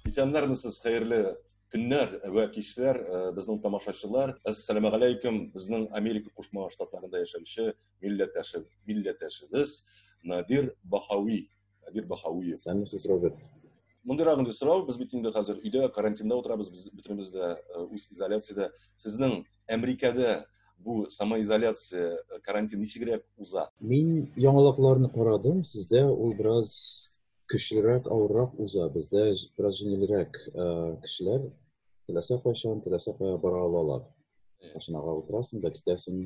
Исәннәрмесез, хәерле көннәр вә кичләр э, безнең тамашачылар әссәламу алейкум безнең америка кушма штатларында яшәүче милләттәше милләттәшебез надир бахауи надир бахауиев сәләмсез роберт мондайрак инде сорау без бит инде хәзер өйдә карантинда утырабыз без бөтенебез дә э, үз изоляциядә сезнең Әмрикәдә бу самоизоляция, э, карантин ничегрәк уза? Мин яңалыкларны карадым, сездә ул бераз көчлерәк, авыррак уза. Бездә бераз җиңелрәк э, кешеләр теләсә кайчан, теләсә кая бара алалар. Машинага утырасың да китәсең,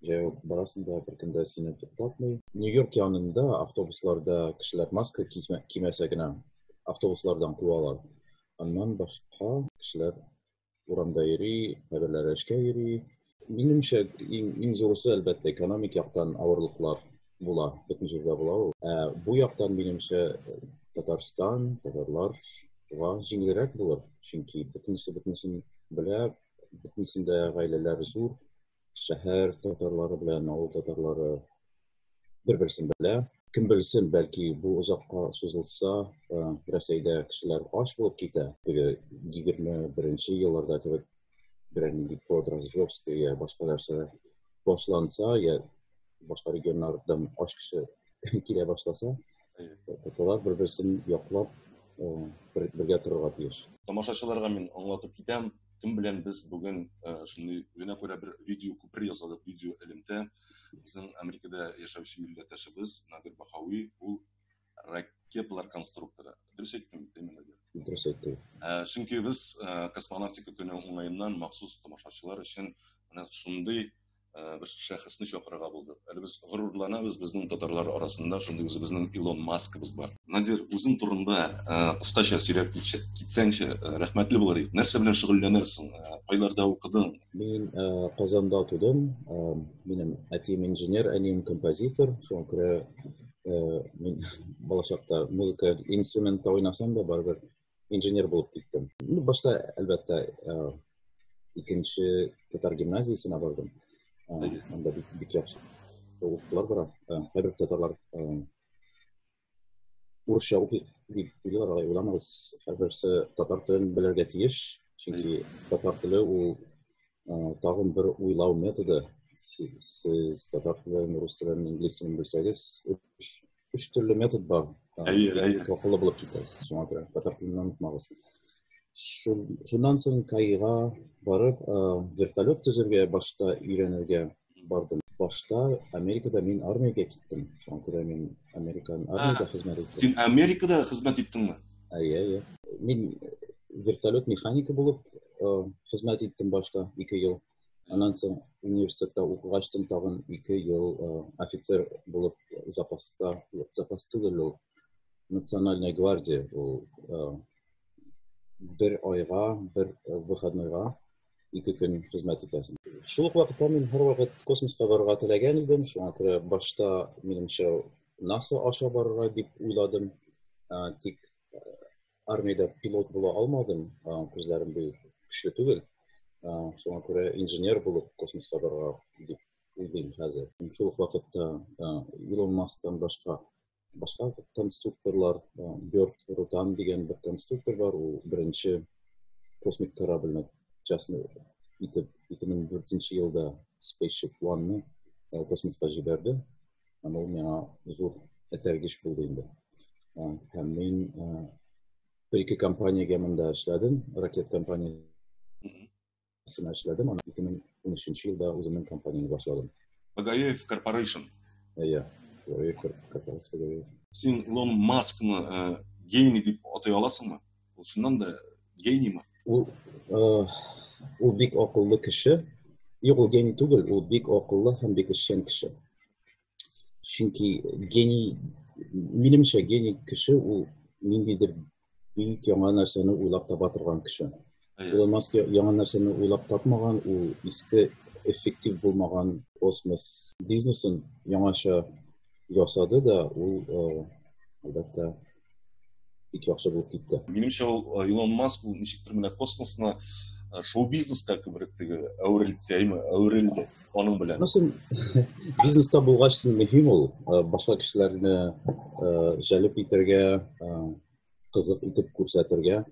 җәяү барасың да, беркем дә сине туктатмый. Нью-Йорк янында автобусларда кешеләр маска кимәсә генә автобуслардан куалар. Аннан башка кешеләр урамда йөри, кайберләре эшкә йөри. Минемчә, иң, иң зурысы, әлбәттә, экономик яктан авырлыклар була, бөтен җирдә була ул. Ә бу яктан, минемчә, Татарстан, татарлар га җиңелрәк булыр, чөнки бөтенесе бөтенесен белә, бөтенесендә гаиләләр зур, шәһәр татарлары белән авыл татарлары бер берсен белә кем белсен бәлки бу озакка сузылса э, рәсәйдә кешеләр ач булып китә теге егерме беренче елларда кебек берәр нинди подразверстка я башка нәрсә башланса я башка регионнардан ач кеше килә башласа Тоталар бер-берсен яклап, бергә торырга тиеш. Тамашачыларга мин аңлатып китәм, кем белән без бүген шундый үзенә күрә бер видео күпер ясадык, видео элемтә. Безнең Америкада яшәүче милләттәшебез Надир Бахауи, ул ракеталар конструкторы. Дөрес әйттем, Тәймин Надир? Дөрес әйттең. Чөнки без космонавтика көне уңаеннан махсус тамашачылар өчен менә шундый э, бер шәхесне чакырырга булдык. Әле без горурланабыз, безнең татарлар арасында шундый үзебезнең Илон Маскыбыз бар. Надир, үзең турында э, кыскача сөйләп китсәңче, э, рәхмәтле булыр идек. Нәрсә белән шөгыльләнәсең? Кайларда укыдың? Мин Казанда тудым. Минем әтием инженер, әнием композитор. Шуңа күрә мин балачакта музыка инструментта уйнасам да, барыбер инженер булып киттем. Ну, башта, әлбәттә, икенче татар гимназиясенә бардым. Анда бик, бик яхшы укытулар бара. Кайбер татарлар урысча укый дип уйлыйлар, алай уйламагыз. Һәрберсе татар телен белергә тиеш, чөнки татар теле ул тагын бер уйлау методы. Сез татар телен, рус телен, инглиз телен белсәгез, үш төрле метод бар әйе әйе тоқылы булып китәсез шуңа күрә татар телен онытмагыз шуннан соң каига барып вертолет төзергә башта өйрәнергә бардым башта америкада мин армиягә киттем шуңа күрә мин американ армияда хезмәт иттем син америкада хезмәт иттеңме әйе әйе мин вертолет механигы булып хезмәт иттем башта ике ел Аннан соң университетта укыгач тын тагын ике ел э, офицер булып запаста, запас түгел ул, национальная гвардия ул э, бер айга, бер э, выходнойга ике көн хезмәт итәсең. Шул ук вакытта мин һәр вакыт космоска барырга теләгән идем, шуңа күрә башта минемчә NASA аша барырга дип уйладым, тик Армиядә пилот була алмадым, күзләрем бик көчле түгел. Шуңа күрә инженер булып космоска барырга дип уйлыйм хәзер. Шул ук вакытта Илон Масктан башка башка конструкторлар, Бёрд Рутан дигән бер конструктор бар, ул беренче космик корабльне частный итеп 2004 елда Spaceship One-ны космоска җибәрде. Һәм ул миңа зур этәргеч булды инде. Һәм мин бер ике компаниягә монда эшләдем, ракет компаниясенә эшләдем, аннан 2013 елда үземнең компаниямне башладым. Багаев Корпорейшн. Иә, Багаев Корпорация. Син Илон Маскны гений дип атай аласыңмы? Ул чыннан да гениймы? Ул ул бик акыллы кеше. Юк, ул гений түгел, ул бик акыллы һәм бик эшчән кеше. Чөнки гений, минемчә, гений кеше ул ниндидер бик яңа нәрсәне уйлап таба торган кеше. Илон Маск яңа нәрсәне уйлап тапмаган, ул иске эффектив булмаган космос бизнесын яңача ясады да, ул, әлбәттә, бик яхшы булып китте минемчә ул э, илон маск ул ничектер менә космосны э, шоу бизнеска күбрәк теге әверелдеме әверелде аның белән бизнеста булгач мөһим ул э, башка кешеләрне җәлеп итәргә кызык итеп күрсәтергә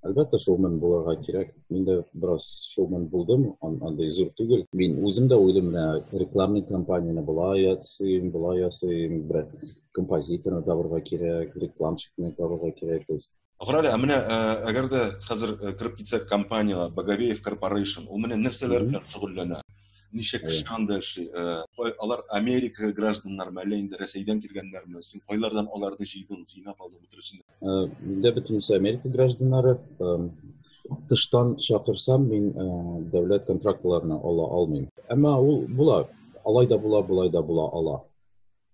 Әлбәттә, шоумен булырга кирәк. Мин дә бераз шоумен булдым, андый зур түгел. Мин үзем дә уйлым, менә рекламный кампанияне болай ясыйм, болай ясыйм, бер композиторны табырга кирәк, рекламщикны табырга кирәк. То есть Гырали, ә менә э, әгәр дә хәзер э, кереп китсәк компаниягә, Боговеев Corporation, ул менә нәрсәләр белән шөгыльләнә? Ничә кеше анда эшли? Э, алар Америка гражданнармы, әллә инде Рәсәйдән килгәннәрме? Син кайлардан аларны җыйдың, җыйнап алдың бөтенесен? Миндә бөтенесе Америка гражданнары. Тыштан чакырсам, мин дәүләт контрактларына ала алмыйм. Әмма ул була, алай да була, болай да була ала.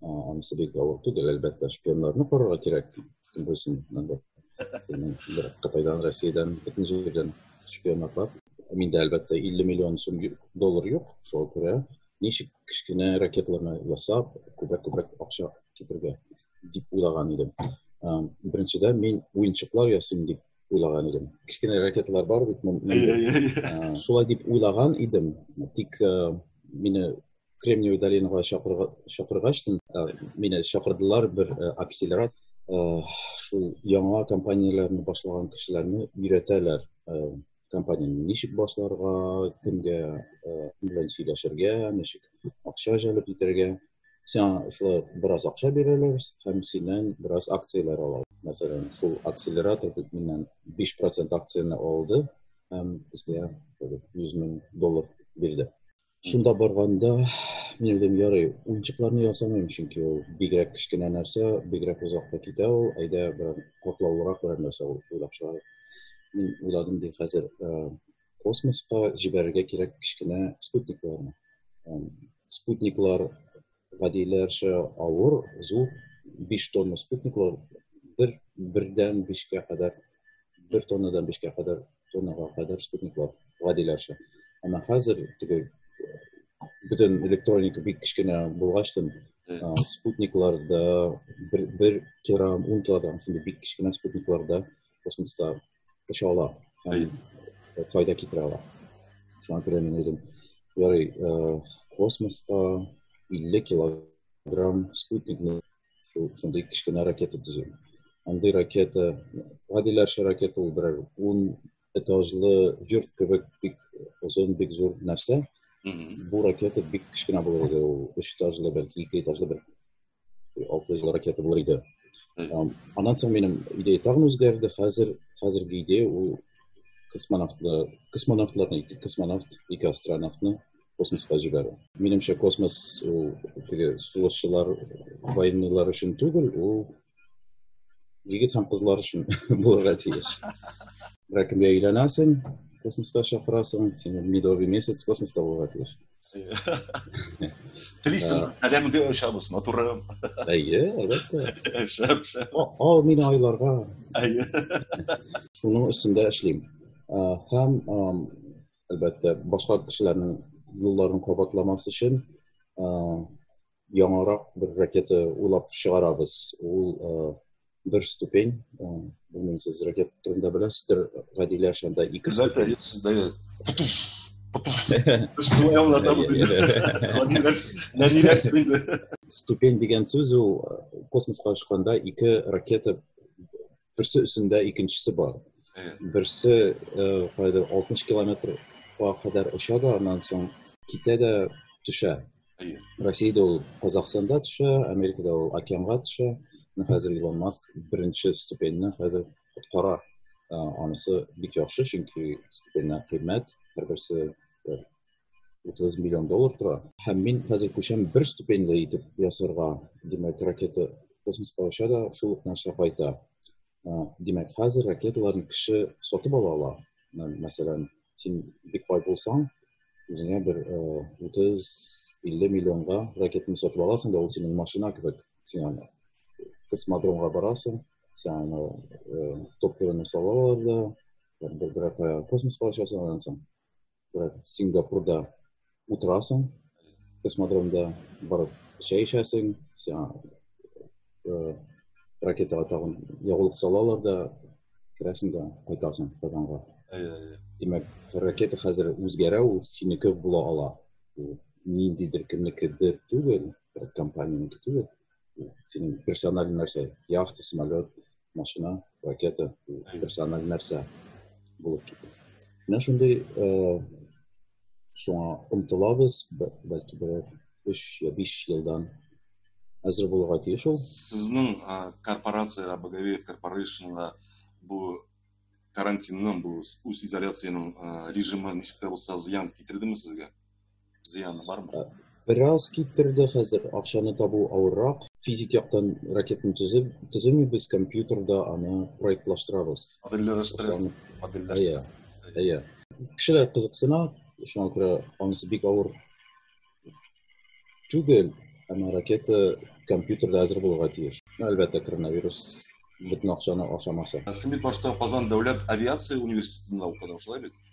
Анысы бик авыр түгел, әлбәттә, шпионнарны карарга кирәк. Кем белсен, инде. Бер Кытайдан, Россиядән, бөтен җирдән шпионнар бар. Миндә, әлбәттә, 50 миллион сум доллар юк, шуңа күрә ничек кечкенә ракетларны ясап, күбрәк-күбрәк акча китерергә? дип уйлаган идем. Беренчедә мин уенчыклар ясыйм дип уйлаган идем. Кечкенә ракеталар бар бит монда. Шулай дип уйлаган идем. Тик мине Кремниевый долинага чакыргач, мине чакырдылар бер акселерат шул яңа компанияләрне башлаган кешеләрне өйрәтәләр компанияне ничек башларга, кемгә белән сөйләшергә, ничек акча җәлеп итәргә. сиңа шулай бераз акча бирәләр һәм синнән бераз акцияләр ала. Мәсәлән, шул акселератор бит миннән 5% акцияне алды һәм безгә 100 мең доллар бирде. Шунда барганда мин уйлыйм, ярый, уенчыкларны ясамыйм, чөнки ул бигрәк кечкенә нәрсә, бигрәк озакка китә ул, әйдә берәр катлаулырак берәр нәрсә уйлап чыгарыйк. Мин уйладым ди, хәзер космоска җибәрергә кирәк кечкенә спутникларны. Спутниклар гадиләрчә авыр, зур, 5 тонна спутниклар бер бердән 5-кә кадәр, 1 тоннадан 5-кә кадәр, тоннага кадәр спутниклар гадиләрчә. Әмма хәзер теге бөтен электроника бик кечкенә булгачтын, спутникларда бер, бер килограмм, 10 килограмм шундый бик кечкенә спутникларда космоста оча ала һәм файда китерә ала шуңа күрә мин уйлыйм ярый космоска 50 килограмм спутникны шундый кечкенә ракета төзү андый ракета гадиләрчә ракета ул берәр ун этажлы йорт кебек бик озын бик зур нәрсә бу ракета бик кечкенә булыр иде ул өч этажлы бәлки ике этажлы бер алты йөз ракета булыр иде аннан соң минем идея тагын үзгәрде хәзер хәзерге идея ул космонавтлар космонавтларны ике космонавт ике астронавтны космосқа җибәрү минемчә космос ул теге сугышчылар военныйлар өчен түгел ул егет һәм кызлар өчен булырга тиеш берәр кемгә өйләнәсең космосқа чакырасың сине медовый месяц космоста булырга тиеш Телисең, э, сәламгә ошабыз, матурым. Әйе, әлбәттә. Шәп, шәп. Ал мине айларга. Әйе. Шуның өстендә эшлим. Э, һәм әлбәттә, башка кешеләрнең юлларын кабатламас өчен э, яңарак бер ракета уйлап чыгарабыз. Ул э, бер ступень, э, белмим сез ракета турында беләсездер, Гадилә шунда ике ступень. Ступень дигән сүз ул э, космосқа очканда ике ракета Берсе өстендә икенчесе бар. Берсе кайда 60 километрга кадәр оча да, аннан соң китә дә төшә. Россиядә ул Казахстанда төшә, Америкада ул океанга төшә. Хәзер Илон Маск беренче ступеньне хәзер коткара. Анысы бик яхшы, чөнки ступеньнәр кыйммәт, һәрберсе 30 миллион доллар тора. Һәм мин хәзер күчәм бер ступеньле итеп ясарга. Димәк, ракета космоска оча да шул ук нәрсә кайта. Димәк, хәзер ракеталарны кеше сатып ала ала. Мәсәлән, син бик бай булсаң, үзеңә бер 30-50 миллионга ракетаны сатып аласың да ул синең машина кебек. Син аны космодромга барасың, син аны топливоны салалар да, бер космоска очасың, аннан соң Сингапурда утырасың, космодромда барып чәй эчәсең, ракетага тагын ягулык салалар да, керәсең дә кайтасың Казанга. Димәк, ракета хәзер үзгәрә, ул синеке була ала. Ниндидер кемнекедер түгел, компаниянеке түгел. синең персональ нәрсә яхта самолет машина ракета персональ нәрсә булып китә менә шундый шуңа омтылабыз бәлки берәр өч я биш елдан әзер булырга тиеш ул сезнең корпорациягә боговеев корпорацияга бу карантинның бу үз изоляциянең режимы ничек тә булса зыян китердеме сезгә зыяны бармы? Э, бераз киттерде хәзер, акчаны табу авыррак. Физик яктан ракетны төзеп, төземибез, компьютерда аны проектлаштырабыз. Модельләштерәбез. Модельләштерәбез. Әйе. Кешеләр кызыксына, шуңа күрә анысы бик авыр түгел, әмма ракета компьютерда әзер булырга тиеш. Әлбәттә, коронавирус бөтен акчаны ашамаса. Син бит башта Казан дәүләт авиация университетында укыдың, шулай бит?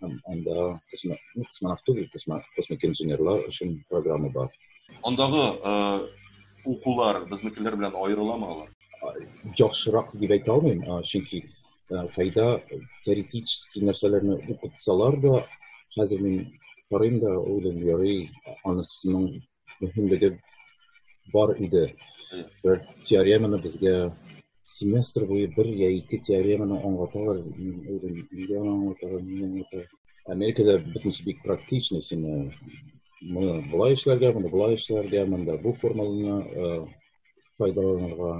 Анда космонавт түгел, космик инженерлар өчен программа бар. Андагы укулар безнекеләр белән аерыламы алар? Яхшырак дип әйтә алмыйм, чөнки кайда теоретический нәрсәләрне укытсалар да, хәзер мин карыйм да, уйлыйм, ярый, анысының мөһимлеге бар иде. Бер теореманы безгә семестр буе бер я ике теореманы аңлаталар, үзем нигә аңлаталар, нигә аңлаталар. Америкада бөтенесе бик практичный, сине моны былай эшләргә, моны былай эшләргә, монда бу формуланы файдаланырга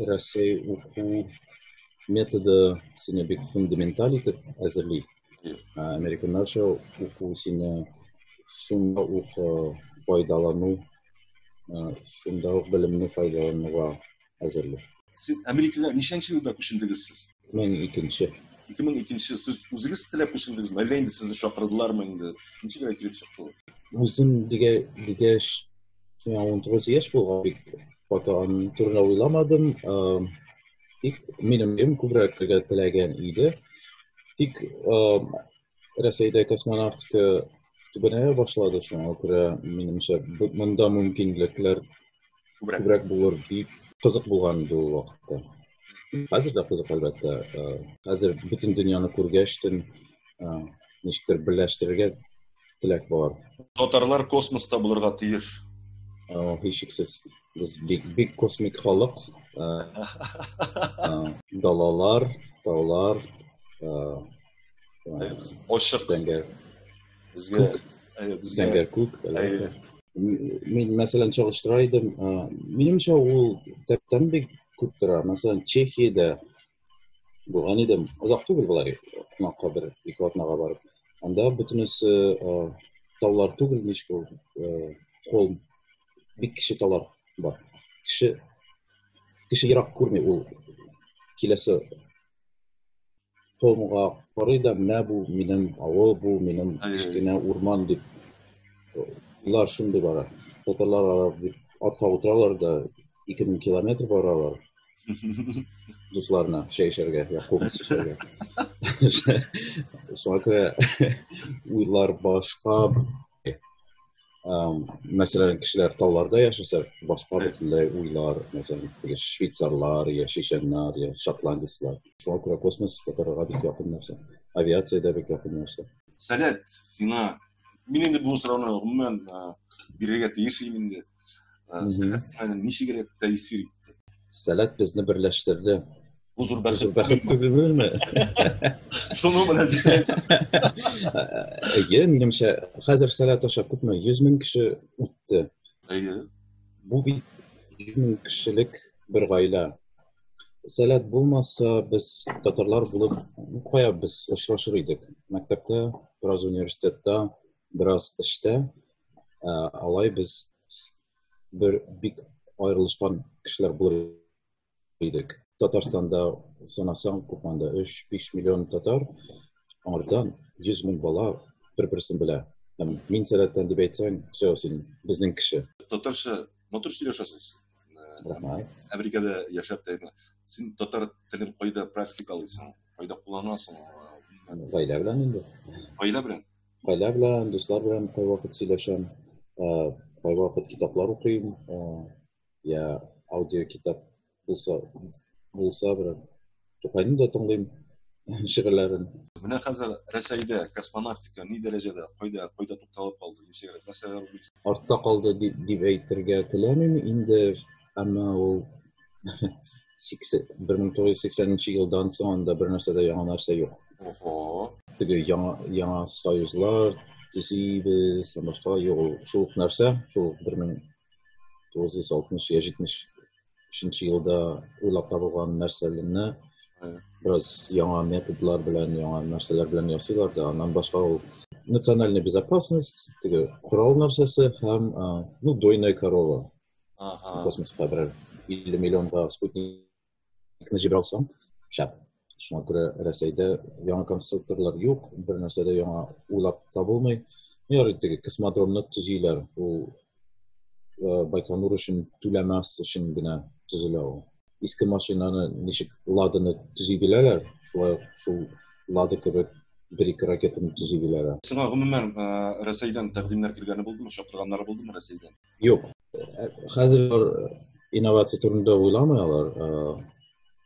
рәсәй уку методы сине бик фундаменталь итеп әзерли американнарча уку сине шунда ук файдалану шунда ук белемне файдалануга әзерли сез америкага ничәнче елда күчендегез сез 2002 2002 сез үзегез теләп күчердегезме әллә инде сезне чакырдылармы инде ничек генә килеп чыкты ул үзем дигә дигәч миңа он тугыз яшь булган бик каты аның турында уйламадым тик минем өем күбрәк теләгән иде тик Рәсәйдә космонавтика түбәнәя башлады, шуңа күрә, минемчә, монда мөмкинлекләр күбрәк булыр дип кызык булган иде ул вакытта. Хәзер дә кызык, әлбәттә. Хәзер бөтен дөньяны күргәчтен, ничектер берләштерергә теләк бар. Татарлар космоста булырга тиеш. Һичшиксез, без бик бик космик халык. Далалар, таулар, Ачык. Зәңгәр. Безгә зәңгәр күк. Мин мәсәлән чагыштыра идем. Минемчә ул тәптән бик күп тора. Мәсәлән, Чехиядә булган идем. Озак түгел болай, кунакка бер ике атнага барып. Анда бөтенесе таулар түгел, ничек ул, холм, бик кече таулар бар. Кеше кеше ерак күрми ул киләсе Томга карый да, менә бу минем авыл, бу минем кечкенә урман дип уйлар шундый бара. Татарлар алар дип атка утыралар да 2000 километр баралар. дусларына чәй эчәргә я кубыз эчәргә шуңа күрә уйлар башка мәсәлән кешеләр тауларда яшәсә башка бөтенләй уйлар мәсәлән теге швейцарлар я чеченнар я шотландецлар шуңа күрә космос татарларга бик якын нәрсә авиация дә бик якын нәрсә сәләт сиңа мин инде бу сорауны гомумән бирергә тиеш инде Сәләт ничек генә тәэсир итте. Сәләт безне берләштерде. Бу зур бәхет. Бәхет түгелме? Шуның белән Әйе, минемчә, хәзер сәләт аша күпме? 100 мең кеше үтте. Әйе. Бу бит 100 мең кешелек бер гаилә. Сәләт булмаса, без татарлар булып кая без очрашыр идек? Мәктәптә, бераз университетта, бераз эштә. Ә, алай без бер бик аерылышкан кешеләр булыр идек. Татарстанда санасаң, купанда 3-5 миллион татар, аңардан 100 мең бала бер-берсен белә. Һәм мин сәләттән дип әйтсәң, все, син безнең кеше. Татарча матур сөйләшәсез. Рәхмәт. Америкада яшәп тә син татар телен кайда практикалыйсың, кайда кулланасың? Гаилә белән инде. Гаилә белән. Гаилә белән, дуслар белән кайвакыт сөйләшәм, кайвакыт китаплар укыйм, я аудио китап булса, булса бер Тукайны да тыңлыйм шигырьләрен. Менә хәзер Рәсәйдә космонавтика ни дәрәҗәдә, кайда, кайда тукталып калды, нәрсәләр Артта калды дип әйтергә теләмим, инде Әмма ул 1980 нче елдан соң анда бер нәрсә дә яңа нәрсә юк. Ого. Теге яңа яңа союзлар төзибез, һәм башка юк ул шул ук нәрсә, шул 1960 я 70 елда уйлап табылган нәрсәләрне бераз яңа методлар белән, яңа нәрсәләр белән ясыйлар да, аннан башка ул национальная безопасность, теге корал нәрсәсе һәм ну дойная корова Ага. Космоска бер 50 миллионга спутникны җибәрә алсаң, шәп. Шуңа күрә Рәсәйдә яңа конструкторлар юк, бер нәрсә дә яңа уйлап табылмый. Ярый теге космодромны төзиләр, ул э, Байконур өчен түләмәс өчен генә төзелә ул. Иске машинаны ничек ладыны төзи беләләр, шулай шул лады кебек бер-ике ракетаны төзи беләләр. Сиңа гомумән э, Рәсәйдән тәкъдимнәр килгәне булдымы, чакырганнары булдымы Рәсәйдән? Юк. Хәзер инновация турында уйламый алар.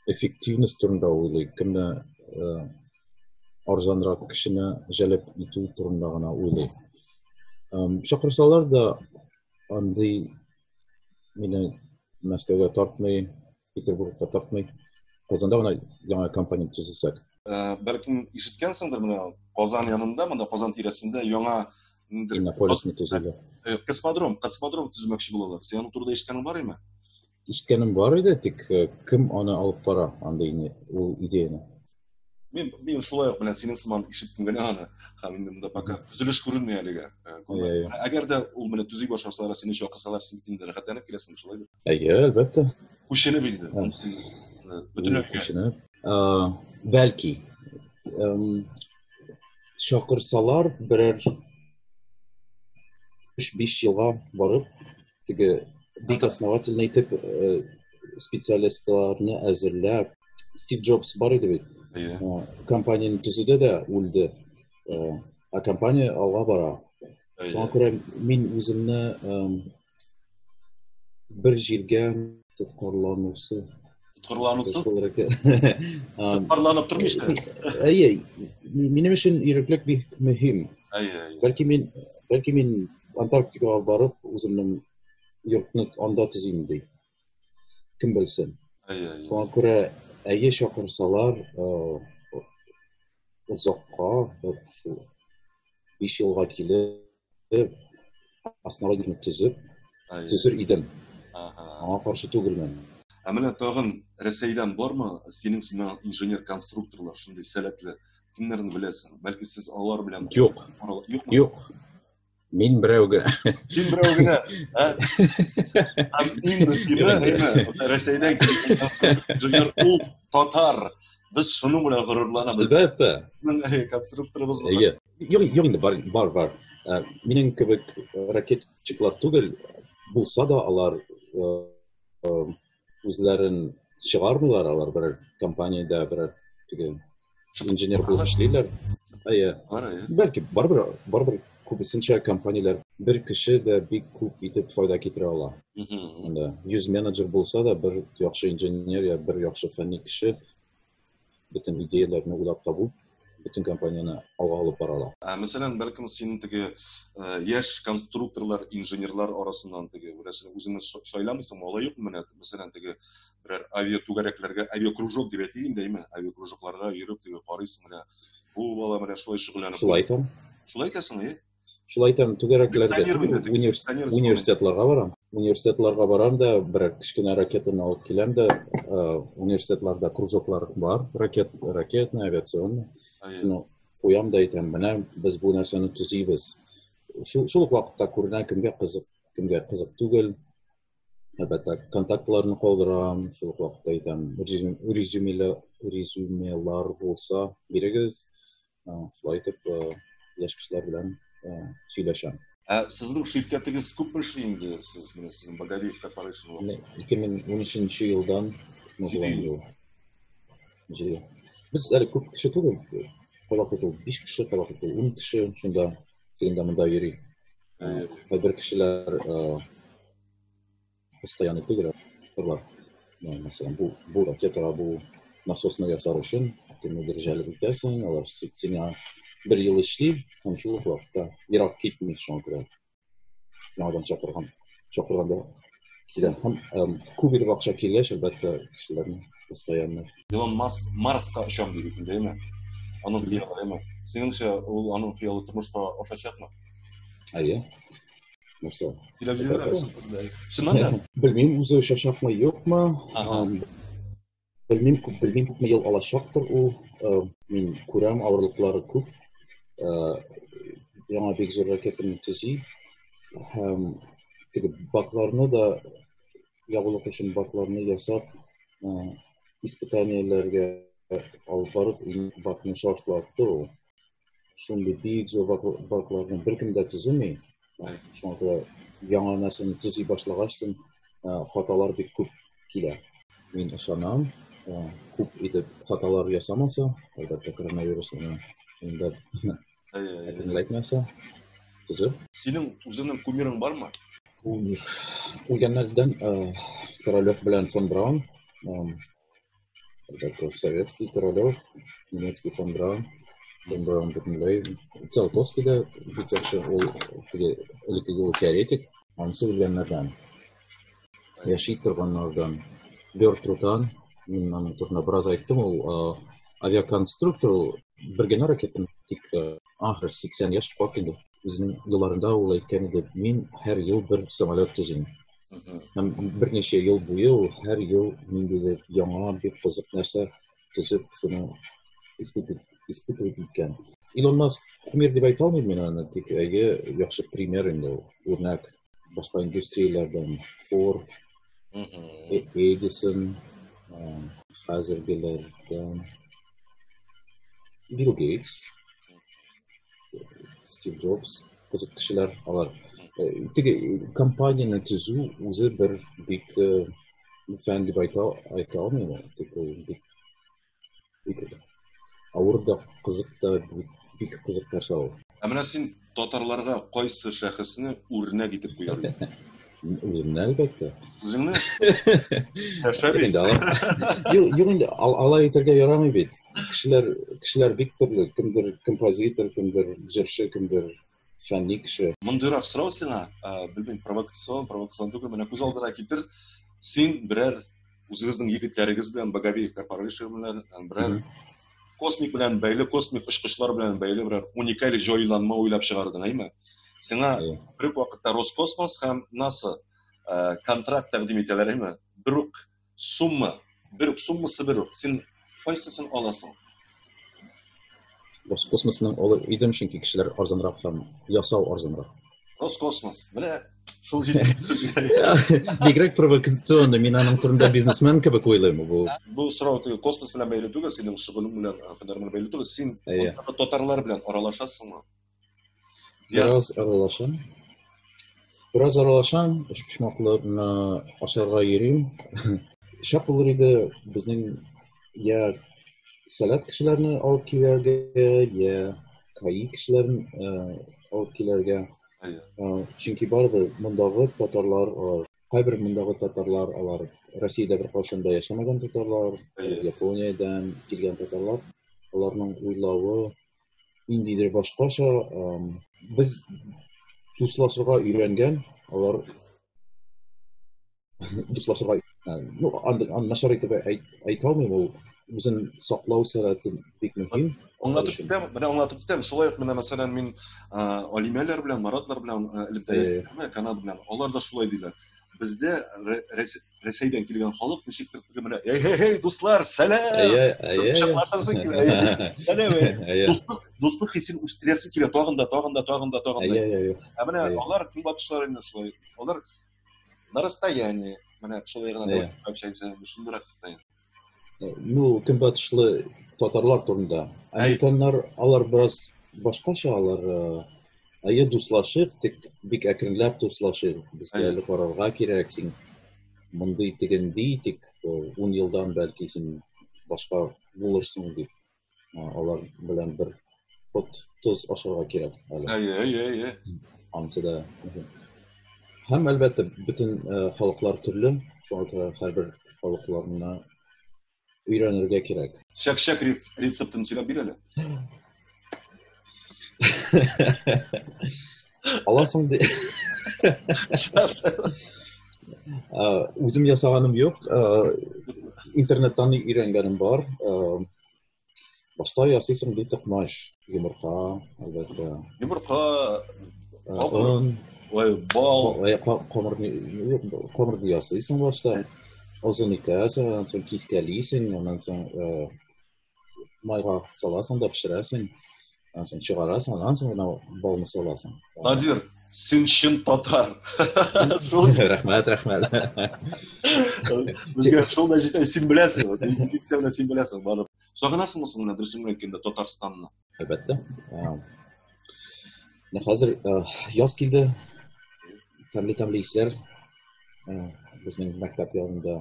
Эффективность турында уйлый. Кемне арзанрак кешене җәлеп итү турында гына уйлый. Чакырсалар да андый мине Мәскәүгә тартмый, Петербургта тапмый. Казанда гына яңа компонент төзесәк. Э, бәлкем ишеткәнсеңдер менә Казан янында, монда Казан тирәсендә яңа ниндер Иннополисны төзелә. Э, космодром, космодром төзмәкче булалар. Син аны турыда ишеткәнең бар име? Ишеткәнем бар иде, тик э, кем аны алып бара андый ул идеяне? Мин мин шулай ук белән синең сыман ишеттем генә аны. Һәм инде монда пока төзелеш күренми әлегә. Әгәр дә ул менә төзи башласалар, сине чак кысалар, син инде рәхәтләнеп киләсең шулай бит. Әйе, әлбәттә. Күченеп инде. Бөтенләй күченеп. Бәлки чакырсалар берәр 3-5 елга барып теге бик основательный итеп э, специалистларны әзерләп стив джобс бар иде бит иә э, компанияны төзеде дә үлде э, а компания алга бара шуңа күрә мин үземне бер җиргә тоткарланусы тоткарланусыз тоткарланып тормыйча әйе минем өчен иреклек бик мөһим әйе бәлки мин бәлки мин антарктикага барып үземнең йортны анда төзим ди кем белсен әйе шуңа күрә әйе чакырсалар озакка шул биш елга килеп астына генә төзеп төзер идем аңа каршы түгелмен ә менә тагын рәсәйдән бармы синең сыман инженер конструкторлар шундый сәләтле кемнәрне беләсең бәлки сез алар белән юк юк мин берәү генә син берәү генә иң мөһиме рәсәйдән инженер ул татар без шуның белән горурланабыз әлбәттә конструкторыбыз бар Йөрим, йөрим, бар, бар, бар. Ә, минем кебек ракетчиклар түгел, булса да алар үзләрен чыгармыйлар, алар бер компаниядә бер теге инженер булып эшлиләр. Әйе. Бәлки барбер, барбер күбесенчә компанияләр бер кеше дә бик күп итеп файда китерә ала. Анда 100 менеджер булса да, бер яхшы инженер я бер яхшы фәнни кеше бөтен идеяләрне уйлап табу бөтен компанияне алга алып бара ала. Ә, мәсәлән, бәлкем синең теге ә, яшь конструкторлар, инженерлар арасыннан теге берәрсен үзеңне сайламыйсың, алай юк менә, мәсәлән, теге берәр авиа түгәрәкләргә авиа кружок дип әйтик инде, әйме, авиа кружокларга йөреп теге карыйсың менә, бу бала менә шулай шөгыльләнеп. Шулай итәм. Шулай итәсең, әйе? шулай итәм түгәрәкләргә университетларга барам университетларга барам да берәр кечкенә ракетаны алып киләм дә университетларда кружоклар бар ракет ракетный авиационный шуны куям да әйтәм менә без бу нәрсәне төзибез шул шул вакытта күренә кемгә кызык кемгә кызык түгел әлбәттә контактларны калдырам шул вакытта әйтәм резюмелар резюмелар булса бирегез шулай итеп яшь кешеләр белән сөйләшәм ә сезнең ширкәтегез күпме эшли инде сез менә сезнең богорев корпорейшн ике мең он өченче елдан без әле күп кеше түгел кабак итү биш кеше кабак итү ун кеше шунда тегендә монда йөри кайбер кешеләр постоянный түгел бар мәсәлән бу бу ракетага бу насосны ясар өчен төрле дәрәҗәле үтәсең алар сиңа бер ел эшли һәм шул ук вакытта ерак китми шуңа күрә яңадан чакырган чакырганда килә һәм күп итеп акча килгәч әлбәттә кешеләрне постоянно илон маск марска очам дип икән дәйме аның хыялы әйме синеңчә ул аның хыялы тормышка ашачакмы әйе нәрсе белмим үзе чачнакмы юкмы белмим күп белмим күпме ел алачактыр ул мин күрәм авырлыклары күп яңа бик зур ракетаны төзи һәм теге бакларны да ябылык өчен бакларны ясап испытаниеләргә алып барып бакны шартлатты ул шундый бик зур балкларны беркем дә төземи. Шуңа күрә яңа нәрсәне төзи башлагач, хаталар бик күп килә. Мин ышанам, күп итеп хаталар ясамаса, әлбәттә, коронавирус инде әйтмәсә, төзеп. Синең үзеңнең кумирың бармы? Кумир. Үлгәннәрдән Королев белән фон Браун. Это советский королев, немецкий фон Браун, фон Браун Бутенлейвен. Циолковский да, Пикачу, Ликвидовый теоретик. Он все Ленардан. Я шитер Ван Нардан. Бертрутан, мин аның турында бераз айттым, ул авиаконструктор, ул бер генә ракетаны тик ахыр 80 яшь кап инде. Үзенең елларында ул әйткән иде, мин һәр ел бер самолет төзим. Һәм берничә ел буе ул һәр ел ниндидер яңа бик кызык нәрсә төзеп шуны испытывать иткән. Илон Маск кумир дип әйтә алмыйм мин аны, тик әйе, яхшы пример инде ул, үрнәк. Башка индустрияләрдән Ford, Edison, хәзергеләрдән Билл Гейтс, Стив Джобс, кызык кешеләр алар. Э, теге компанияне төзү үзе бер бик э, фән дип айта, айта алмыйм. Тик ул бик, бик авыр да, кызык та, бик, бик кызык нәрсә ул. Ә менә син татарларга кайсы шәхесне үрнәк итеп куяр Үземне әлбәттә. Үзеңне? Шәбин. Юк, юк инде алай итәргә ярамый бит. Кешеләр, кешеләр бик төрле, кемдер композитор, кемдер җырчы, кемдер фәнни кеше. Мондыйрак сорау сиңа, белмим, провокацион, провокацион түгел, менә күз алдына китер, син берәр үзегезнең егетләрегез белән боговик корпорация белән берәр космик белән бәйле космик очкычлар белән бәйле берәр уникаль җайланма уйлап чыгардың әйме сиңа бер үк вакытта роскосмос һәм наса контракт тәкъдим итәләр әйме бер үк сумма бер үк суммасы бер үк син Кайсысын аласың? Роскосмосның олы идем, чөнки кешеләр арзанрак һәм ясау арзанрак. Роскосмос, менә шул җирдә. Бигрәк провокационный, мин аның турында бизнесмен кебек уйлыйм бу. Бу сорау теге космос белән бәйле түгел, синең шөгылең белән федераль бәйле түгел. Син татарлар белән аралашасыңмы? Бераз аралашам. Бераз аралашам, өчпочмакларны ашарга йөрим. Шәп булыр иде безнең я сәләт кешеләрне алып килергә, я каи кешеләрен э, алып килергә. Э, чөнки барыбер мондагы татарлар, кайбер мондагы татарлар алар Россиядә бер кашында да яшәмәгән татарлар, Япониядән килгән татарлар, аларның уйлавы, ниндидер башкача без дуслашырга өйрәнгән алар дуслашырга ну начар итеп әйтә алмыйм ул үзен саклау сәләте бик мөһим аңлатып китәм менә аңлатып китәм шулай ук менә мәсәлән мин алимәләр белән маратлар белән элемтәләр канал белән алар да шулай диләр бездә Рәсәйдән килгән халык ничектер теге менә эй-эй-эй, дуслар, сәлам! Әйе, әйе. Шатлашасы килә, әйе. Сәлам, әйе. Дуслык, дуслык хисен үстерәсе килә, тагын да, тагын да, тагын да, тагын да. Әйе, әйе. Ә менә алар көнбатышлар инде шулай. Алар на расстоянии, менә шулай гына да, шундыйрак дип ну көнбатышлы татарлар турында американнар алар бераз башкача алар әйе дуслашып тик бик әкренләп дуслашып безгә әле карарга кирәк син мондый тегенди тик ун елдан бәлки син башка булырсың дип Алар белән бер ут тоз ашарга кирәк әле. Әйе, әйе, әйе. Ансы да. Һәм әлбәттә бөтен халыклар төрле, шуңа күрә һәрбер халыкларына өйрәнергә кирәк. Чәк-чәк рецептын сөйләп бир әле. аласың де үзем ясаганым юк интернеттан өйрәнгәнем бар башта ясыйсың ди токмач йомырка әлбәттә йомырка он ой бал камырны ясыйсың башта озын итәсең аннан соң кискәлисең аннан соң майга саласың да пешерәсең анан соң чыгарасың анан соң гана балны саласың надир син чын татар рәхмәт рәхмәт безгә шул да җитә син беләсең милиция белән син беләсең барып сагынасыңмы соң менә дөресен генә әйткәндә татарстанны Әлбәттә. Менә хәзер яз килде. Тәмле-тәмле исләр безнең мәктәп янында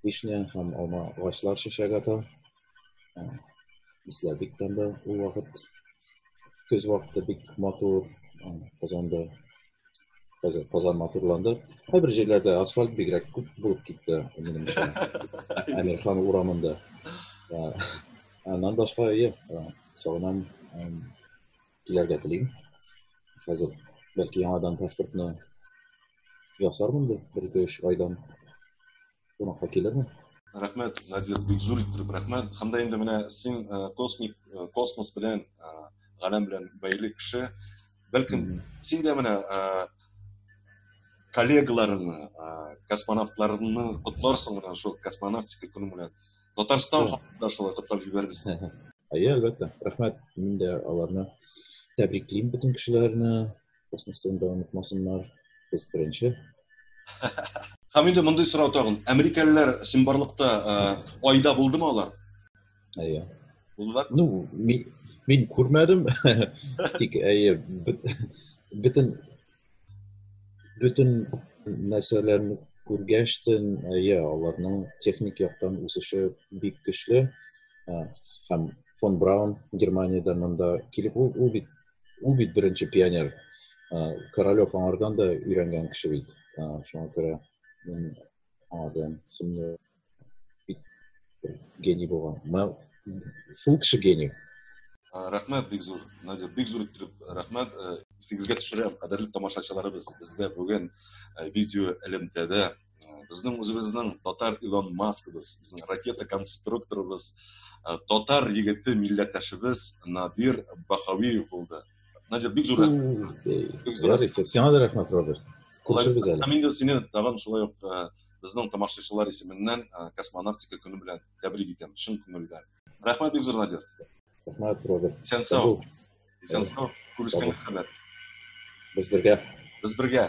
вишня һәм алма агачлар чәчәк ата. Исләр бик тәмле ул вакыт. Көз вакыты бик матур. Казанда Хәзер Казан матурланды. Кайбер җирләрдә асфальт бигрәк күп булып китте, минемчә. Әмирхан урамында. Аннан башка әйе, сагынам килергә телим. Хәзер бәлки яңадан паспортны ясармын бит бер-ике-өч айдан. кунакка килермен. Рәхмәт, Надир, бик зур иттереп рәхмәт. Һәм дә инде менә син космик космос белән, галәм белән бәйле кеше. Бәлкем син дә менә коллегаларыңны, космонавтларыңны котларсың менә шул космонавтика көне белән. Татарстан халкына шулай котлап җибәрерсең. Әйе, әлбәттә. Рәхмәт. Мин дә аларны тәбриклим бөтен кешеләрне. космостан да онытмасыннар без беренче һәм инде мондый сорау тагын америкалылар чынбарлыкта айда булдымы алар әйе булдылар ну мин мин күрмәдем тик әйе бөтен бөтен нәрсәләрне күргәч тен әйе аларның техник яктан үсеше бик көчле һәм фон браун германиядә монда килеп ул бит Ул бит беренче пионер. Королев аңардан да өйрәнгән кеше бит. Шуңа күрә мин аңардан сымны гений булган. Мен шул кеше гений. Рәхмәт бик зур. Надя, бик зур итеп рәхмәт. Исегезгә төшерәм, кадерле тамашачыларыбыз, бездә бүген видео элемтәдә біздің өзіміздің татар илон маскыбыз біздің ракета конструкторыбыз татар егеті милләттәшебез надир бахауиев болды надир бик зур рахмет сиңа да рахмет роберт күрешербез әле мин дә сине тагын шулай ук безнең тамашачылар исеменнән космонавтика көне белән тәбрик итәм чын күңелдән рәхмәт бик зур надир рәхмәт роберт исән сау исән сау күрешкәнгә кадәр без бергә без бергә